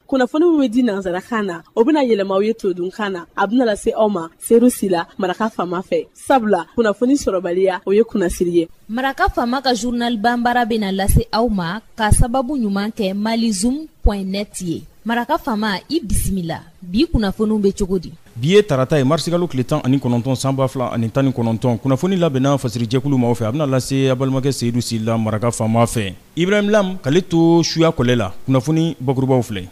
kunnafoni min bɛ di nansarakan na o bɛna yɛlɛma aw ye todunkan na a bɛna lase aw ma seyidu sila maraka faama fɛ sabula kunnafoni sɔrɔbaliya o ye kunnasiri ye maraka faama ka journal banbara bɛna lase aw ma ka sababu ɲuman kɛ malizoom.net ye maraka faama i bisimila bi kunnafoniw bɛ cogo di Bi ye tarata ye marisikalo tile tan ani kɔnɔntɔn sanba fila ani tan ni kɔnɔntɔn kunnafoni labɛnna fasirijɛkulu maaw fɛ a bɛna lase aw balimakɛ seyidu sila maraka faama fɛ ibrahim lam k'ale to suya kɔlɛ la kunnafoni bakurubaww filɛ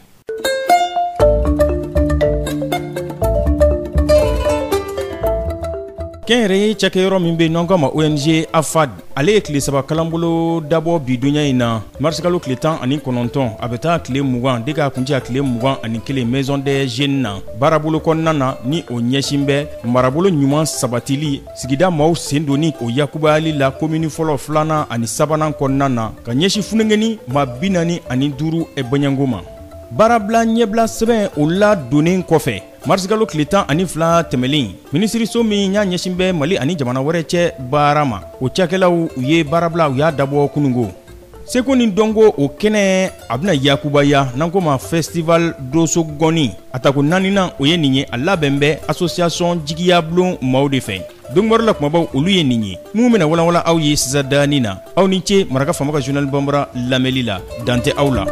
kɛnyɛrɛye cakɛyɔrɔ min bɛ n'an k'a ma ONG AFAD ale ye tile saba kalanbolo dabɔ bi donya in na marisikalo tile tan ani kɔnɔntɔn a bɛ taa tile mugan de k'a kuncɛ a tile mugan ani kelen maison des jeunes na baarabolo kɔnɔna na ni o ɲɛsin bɛ marabolo ɲuman sabatili sigida maaw sen donni o yakubayali la komini fɔlɔ filanan ani sabanan kɔnɔna na ka ɲɛsin funengeni maa bi naani ani duuru baɲango ma baarabila ɲɛbila sɛbɛn o ladonnen kɔfɛ marisikalo tile tan ani fila tɛmɛlen minisiriso min y'a ɲɛsin bɛ mali ani jamana wɛrɛ cɛ baara ma o cakɛlaw u ye baarabila u y'a dabɔ kunungo seko ni dɔnko o kɛnɛ a bɛna yakubaya n'an k'o ma festival donso ngɔni a tako naaninan o ye nin ye a labɛn bɛ association jigiya bulon maaw de fɛ donkibaru la kumabaw olu ye nin ye minnu bɛna walanwalan aw ye sisan dani na aw ni ce maraka faama ka journal banbara lamɛli la dan tɛ aw la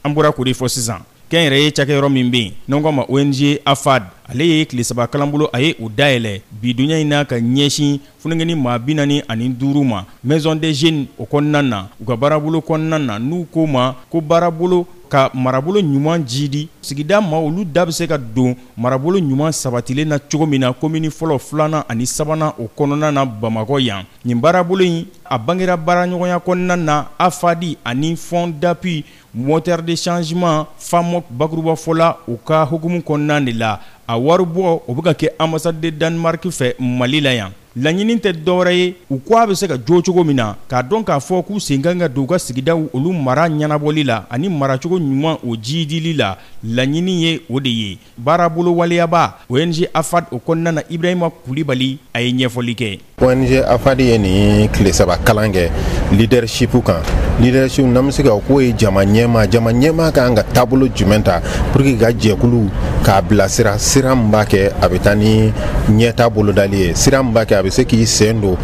an bɔra k'o de fɔ sisan kɛnyɛrɛye cakɛyɔrɔ min bɛ yen n'an k'a ma ong afad ale ye tile saba kalanbolo a ye o dayɛlɛ bi duɲa in na ka ɲɛsin Funengeni maa bi naani ani duuru ma maison des jeunes o kɔnɔna na u ka baarabolo kɔnɔna na n'u ko ma ko baarabolo ka marabolo ɲuman jiidi sigida maa olu da bɛ se ka don marabolo ɲuman sabatilen na cogo min na komini fɔlɔ filanan ani sabanan o kɔnɔna na bamakɔ yan nin baarabolo in a bangera baaraɲɔgɔnya kɔnɔna na AFAD ani fond d'appui Moteurs de changement FAMOC bakurubafɔ la u ka hukumu kɔnɔna de la, a waribɔ o bɛ ka kɛ Ambassade de Danemark fɛ Mali la yan. Laɲinin tɛ dɔwɛrɛ ye u ko a bɛ se ka jo cogo min na, k'a dɔn k'a fɔ k'u sen ka kan ka don u ka sigidaw olu mara ɲɛnabɔli la ani maracogo ɲuman o jiidili la, laɲinin ye o de ye. Baarabolo waleyabaa, ONG AFAD, o kɔnɔna na, Ibrahima Kulibali a ye ɲɛfɔli kɛ. ONG AFAD ye nin tile saba kalan kɛ leadership kan. Leadership, n'an bɛ se k'a fɔ k'o ye jama ɲɛmaa. Jama ɲɛmaa ka kan ka taabolo jumɛn ta pour que ka jɛkulu k'a bilasira sira min b'a kɛ a bɛ taa ni ɲɛtaa bolodali ye, sira min b'a kɛ a bɛ se k'i sen don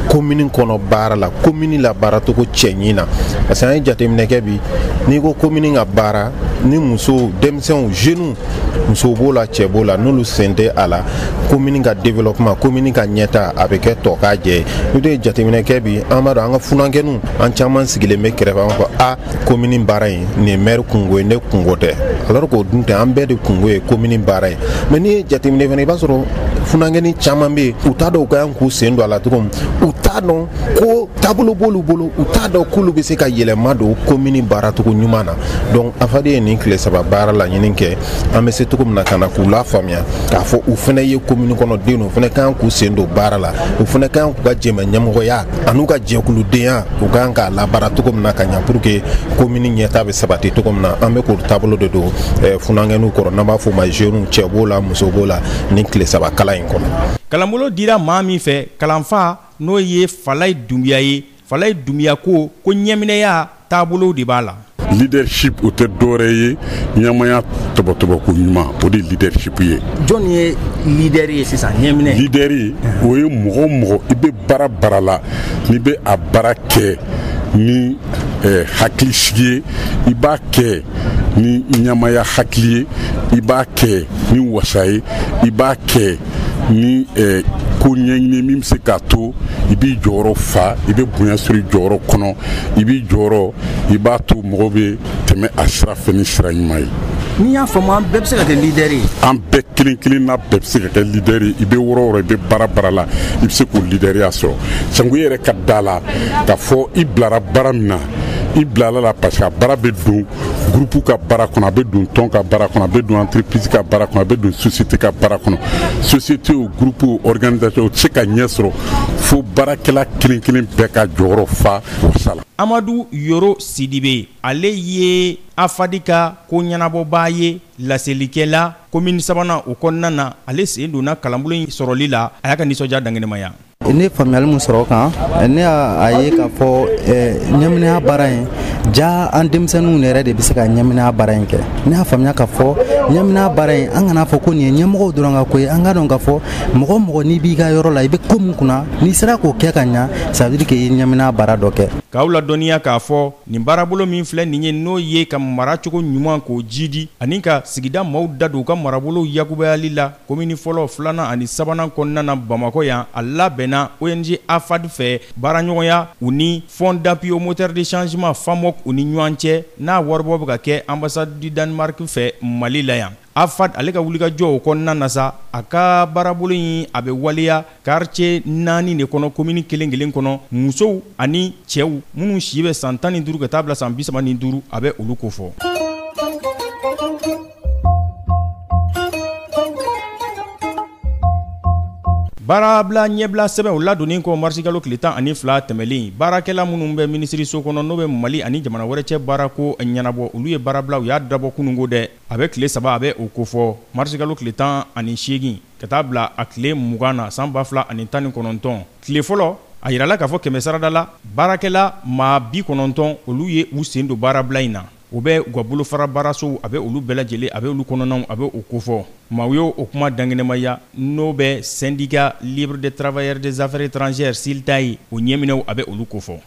commune kɔnɔ baara la, commune la baaracogo cɛɲi na parce que an ye jateminɛ kɛ bi n'i ko commune ka baara ni muso, denmisɛn sɛnw jeunes muso b'o la cɛ b'o la n'olu sen tɛ a la komini ka développement komini ka ɲɛtaa a bɛ kɛ tɔkajɛ ye n'o ye jateminɛ kɛ bi an b'a dɔn an ka funankɛninw an caman sigilen bɛ kɛrɛfɛ an fɔ a komini baara in nin maire kungo ye ne kungo tɛ alors k'o dun tɛ an bɛɛ de kungo ye komini baara ye mais n'i ye jateminɛ fana i b'a sɔrɔ funankɛnin caman bɛ yen u t'a dɔn u ka kan k'u sen don a la cogo min u t'a dɔn ko taabolo b'olu bolo u t'a dɔn k'olu bɛ se ka yɛlɛma don komini baaracogo ɲuman na donc afad ye nin tile saba baara laɲini kɛ an bɛ se cogo min na ka na k'u lafaamuya k'a fɔ u fana ye komini kɔnɔ den u fana ka kan k'u sen don baara la u fana ka kan k'u ka jɛmɛ ɲɛmɔgɔya an'u ka jɛkuludenya u ka kan k'a labaara cogo min na ka ɲa pour que komini ɲɛtaa bɛ sabati cogo min na an bɛ k'o taabolo de don eh, funankɛninw kɔrɔ n'an b'a fɔ ma jeunes cɛ b'o la muso b'o la nin tile saba kalan in kɔnɔ kalanbolo dira maa min fɛ kalanfa n'o ye Falaye Dunbiya ye, Falaye Dunbiya ko ko ɲɛminɛya taabolo de b'a la. Leadership o tɛ dɔwɛrɛ ye ɲɛmaaya tɔbɔtɔbɔko ɲuman o de leadership ye. Jɔni ye leader ye sisan ɲɛminɛ? Leader o ye mɔgɔ o mɔgɔ i bɛ baara baara la n'i bɛ a baara kɛ ni eh, hakili sigi ye i b'a kɛ ni ɲɛmaaya hakili ye i b'a kɛ ni wasa ye i b'a kɛ ni eh, ko ɲɛɲini min bɛ se k'a to i b'i jɔyɔrɔ fa i bɛ bonya sɔrɔ i jɔyɔrɔ kɔnɔ i b'i jɔyɔrɔ i b'a to mɔgɔw bɛ tɛmɛ a sira fɛ ni sira ɲuman ye n'i y'a faamu an bɛɛ bɛ se ka kɛ leader ye an bɛɛ kelen kelen na bɛɛ bɛ se ka kɛ leader ye i bɛ wɔrɔ wɔrɔ i bɛ baara baara la i bɛ se k'o leaderiya sɔrɔ sango i yɛrɛ ka da a la k'a fɔ i bilara baara min na i bilala a la parce que a baara bɛ don groupe ka baara kɔnɔ a bɛ don tɔn ka baara kɔnɔ a bɛ don entreprise ka baara kɔnɔ a bɛ don société ka baara kɔnɔ société o groupe o organisation o tɛ se ka ɲɛ sɔrɔ fo baarakɛla kelen kelen bɛɛ k'a jɔyɔrɔ fa wasa la amadu yoro sidibe ale ye afad ka ko ɲɛnabɔbaa ye laselikɛla komini sabanan o kɔnɔna na ale sen donna kalanbolo in sɔrɔli la a y'a ka nisɔndiya dankɛnɛmaya ne faamuyali min sɔrɔ o kan ne y'a ye k'a fɔ ɲɛminɛya baara in jaa an denmisɛnninw yɛrɛ de bɛ se ka ɲɛminɛya baara in kɛ ne y'a faamuya k'a fɔ ɲɛminɛya baara in an kana fɔ ko nin ye ɲɛmɔgɔw dɔrɔn ka ko ye an k'a dɔn k'a fɔ mɔgɔ o mɔgɔ n'i b'i ka yɔrɔ la i bɛ ko min kunna n'i sera k'o kɛ ka ɲa ça veut dire que i ye ɲɛminɛya baara dɔ kɛ k'aw ladɔnniya k'a fɔ nin baarabolo min filɛ nin ye n'o ye ka maracogo ɲuman k'o jiidi ani ka sigida maaw da don u ka marabolow yakubayali la komini fɔlɔ filanan ani sabanan kɔnɔna na bamakɔ yan a labɛnna ong afad fɛ baaraɲɔgɔnya u ni fonds d'appui aux moteurs de changement famoc u ni ɲɔgɔn cɛ n'a waribɔ bɛ ka kɛ ambassade du danemark fɛ mali la yan afad ale ka wulikajɔ o kɔnɔna na sa a ka baarabolo in a bɛ waleya quartier naani de kɔnɔ komini kelen kelen kɔnɔ musow ani cɛw minnu si bɛ san tan ni duuru ka taa bila san bisaba ni duuru a bɛ olu kofɔ baarabila ɲɛbila sɛbɛn o ladonnen kɔ marisikalo tile tan ani fila tɛmɛlen baarakɛla minnu bɛ minisiriso kɔnɔ n'o bɛ mali ani jamana wɛrɛ cɛ baarako ɲɛnabɔ olu ye baarabila u y'a dabɔ kununko dɛ a bɛ tile saba a bɛ o kofɔ marisikalo tile tan ani seegin ka taa bila a tile mugan na san ba fila ani tan ni kɔnɔntɔn tile fɔlɔ a jirala k'a fɔ kɛmɛ sarada la baarakɛla maa bi kɔnɔntɔn olu ye u sen don baarabila in na u bɛ u ka bolofara baarasow a bɛ olu bɛɛ lajɛlen a bɛ olu kɔnɔnaw a bɛ o kofɔ maaw ye o kuma dankɛnɛmaya n'o bɛ syndicat libre des travailleurs des affaires étrangères silta ye o ɲɛminɛw a bɛ olu kofɔ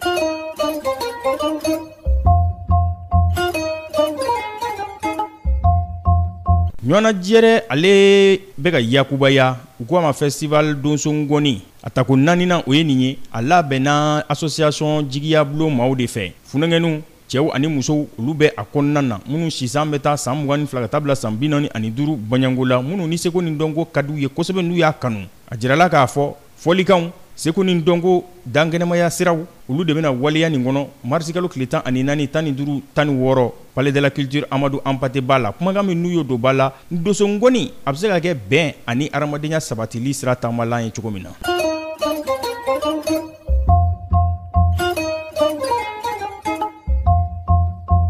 Ɲɔgɔnnajɛrɛ ale bɛ ka yakubaya u ko a ma festival donso ngɔni a tako naaninan o ye nin ye a labɛnna association jigiya bulon maaw de fɛ funankɛninw cɛw ani musow olu bɛ a kɔnɔna na minnu si san bɛ taa san mugan ni fila ka taa bila san binaani ani duuru bɔnɲɔgo la minnu ni seko ni dɔnko ka di u ye kosɛbɛ n'u y'a kanu a jirala k'a fɔ Fɔlikanw seko ni dɔnko dankɛnɛmaya siraw olu de bɛna waleya nin kɔnɔ marisikalo tile tan ani naani tan ni duuru tan ni wɔɔrɔ palais de la culture amadu hampâté ba la kumakan min n'u y'o don ba la donso ngɔni a bɛ se ka kɛ bɛn ani hadamadenya sabatili sira taamalan ye cogo min na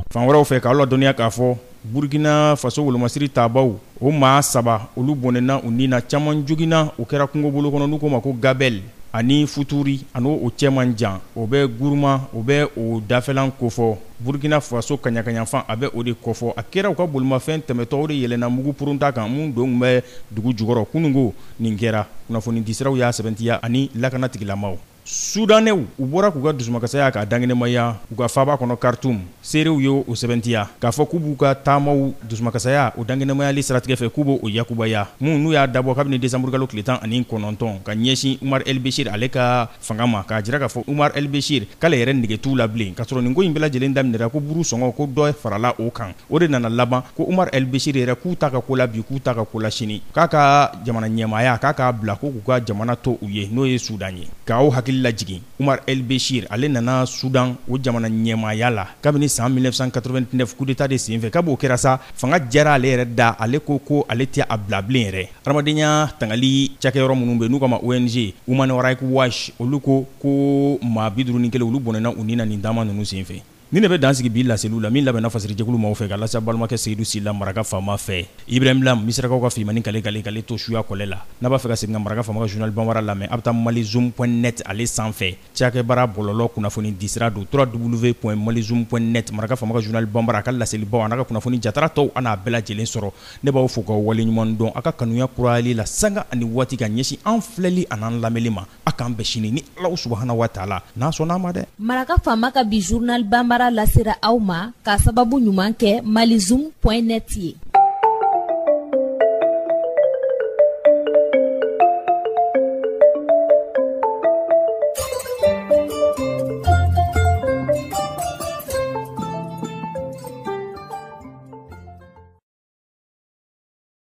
fan wɛrɛw fɛ k'aw ladɔnniya k'a fɔ Burkina faso wolomasiri taabaw, o maa saba, olu bɔnɛna u ni na. Caman joginna, o kɛra kungobolo kɔnɔ, n'u k'o ma ko Gabel ani Futuri, ani o cɛ man jan. O bɛ Gourma, o bɛ o dafɛlan kofɔ. Burkina faso kaɲakaɲafan, a bɛ o de kofɔ. A kɛra u ka bolimafɛn tɛmɛtɔ, o de yɛlɛnna mugu purunta kan, min don tun bɛ dugu jukɔrɔ. Kunungo, nin kɛra. Kunnafonidisiraw y'a sɛbɛntiya, ani lakana tigilamaaw. Soudanais u bɔra k'u ka dusumakasaya k'a dankɛnɛmaya u ka faaba kɔnɔ Khartoum, seerew ye o sɛbɛntiya k'a fɔ k'u b'u ka taamaw dusumakasaya o dankɛnɛmayali siratigɛ fɛ k'u bɛ o yakubaya, min n'u y'a dabɔ kabini desanburukalo tile tan ani kɔnɔntɔn ka ɲɛsin Umar el-Bechir ale ka fanga ma, k'a jira k'a fɔ Umar el-Bechir k'ale yɛrɛ nege t'u la bilen, kasɔrɔ nin ko in bɛɛ lajɛlen daminɛra ko buru sɔngɔ ko dɔ farala o kan. O de nana laban ko Umar el-Bechir yɛrɛ k'u ta ka ko la bi k'u ta ka ko la sini k'a ka jamana ɲɛmaaya k'a k'a bila ko k'u ka jamana to u ye n'o ye Sudan ye ka aw hakili lajigin Umar el-Bechir ale nana Sudan o jamana ɲɛmaaya la kabini san 1989 coup d'Etat de senfɛ kabi o kɛra sa fanga diyara ale yɛrɛ da ale ko ko ale tɛ a bila bilen yɛrɛ hadamadenya tangali cakɛyɔrɔ minnu bɛ yen n'u k'a ma ONG Human Rights Watch olu ko ko maa 51 olu bɔnɛna u ni na nin taama ninnu senfɛ. Nin de bɛ dan sigi bi laseliw la min labɛnna Fasiri jɛkulu maaw fɛ ka lase a balimakɛ Seyidu Sila maraka faama fɛ. Ibrahim Lam, Misirakaw ka filimani kale kale kale to suya kɔlɛ la. N'a b'a fɛ ka segin ka maraka faama ka journal Banbara lamɛn, a bɛ taa malizoom.net ale sanfɛ. Cakɛbara bɔlɔlɔ kunnafoni disira don www.malizoom.net maraka faama ka journal Banbara a ka laselibaw an'a ka kunnafoni jatara tɔw a n'a bɛɛ lajɛlen sɔrɔ. Ne b'aw fo k'aw waleɲumandɔn a ka kanuya kurayali la sanga ani waati ka ɲɛsin an filɛli an'an lamɛnli ma. a k'an bɛn sini ni Alahu subahana wa taala n'a sɔnna a ma dɛ maraka faama ka bi journal banbara lasera aw ma k'a sababu ɲuman kɛ malizoom point net ye